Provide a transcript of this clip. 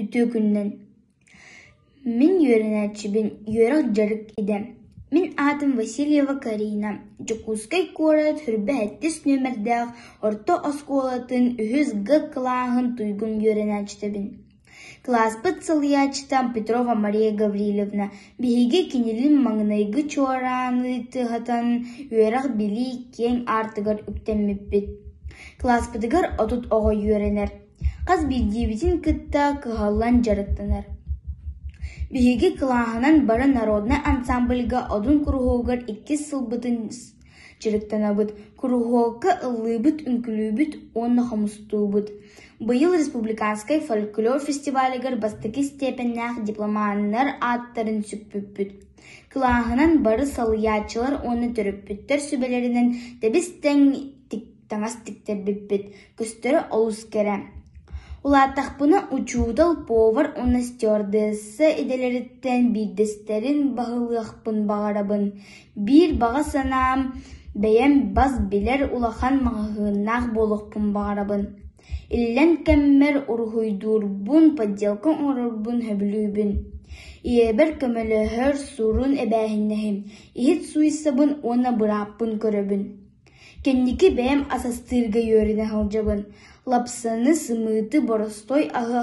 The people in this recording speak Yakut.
Үтүөкүннэн: Мин үөрэнээччибин үөрэх дьарык идэм, мин аатым Васильева Карина, Дьокуускай куорат сүүрбэһэттис нүөмэрдээх орто оскуолатын үһүс Г кылааһын туйгун үөрэнээччитэбин. Кылааспыт сылыйааччыта Петрова Мария Гавриловна, биһиги кинилин маҥнайгы чуорааны тыаһатан үөрэх-билии киэҥ аартыгар үктэммиппит. Кылааспытыгар отут оҕо үөрэнэр. хас биирдиибитин кытта кыһаллан дьарыктанар. Биһиги кылааһынан бары народнай ансаамбылга одун куруһуогар иккис сылбытын дьарыктанабыт, куруһуокка ыллыыбыт, үҥкүүлүүбүт уонна хомустуубут. Быйыл республиканскай фольклор фестивалигар бастакы степеннээх дипломаннар ааттарын сүкпүппүт. Кылааһынан бары салайааччылар уонна төрөппүттэр сүбэлэринэн тэбис-тэҥ таҥас тиктэрбиппит көстөрө олус кэрэ улаатахпына учуутал повар уонна стюардесса идэлэриттэн биирдэстэрин баһылыахпын баҕарабын биир баҕа санаам бэйэм бас билэр улахан маҕаһыыннаах буолуохпун баҕарабын иллэн кэммэр уруһуйдуурбун подделка оҥорорбун сөбүлүүбүн ийэбэр көмөлөһөр сурун эбээһиннэһим иһит сууйсабын уонна бырааппын көрөбүн Кэнники бэйэм асастыырга үөрэнэ сылдьабын, лапсаны, сымыыты, боростуой аһы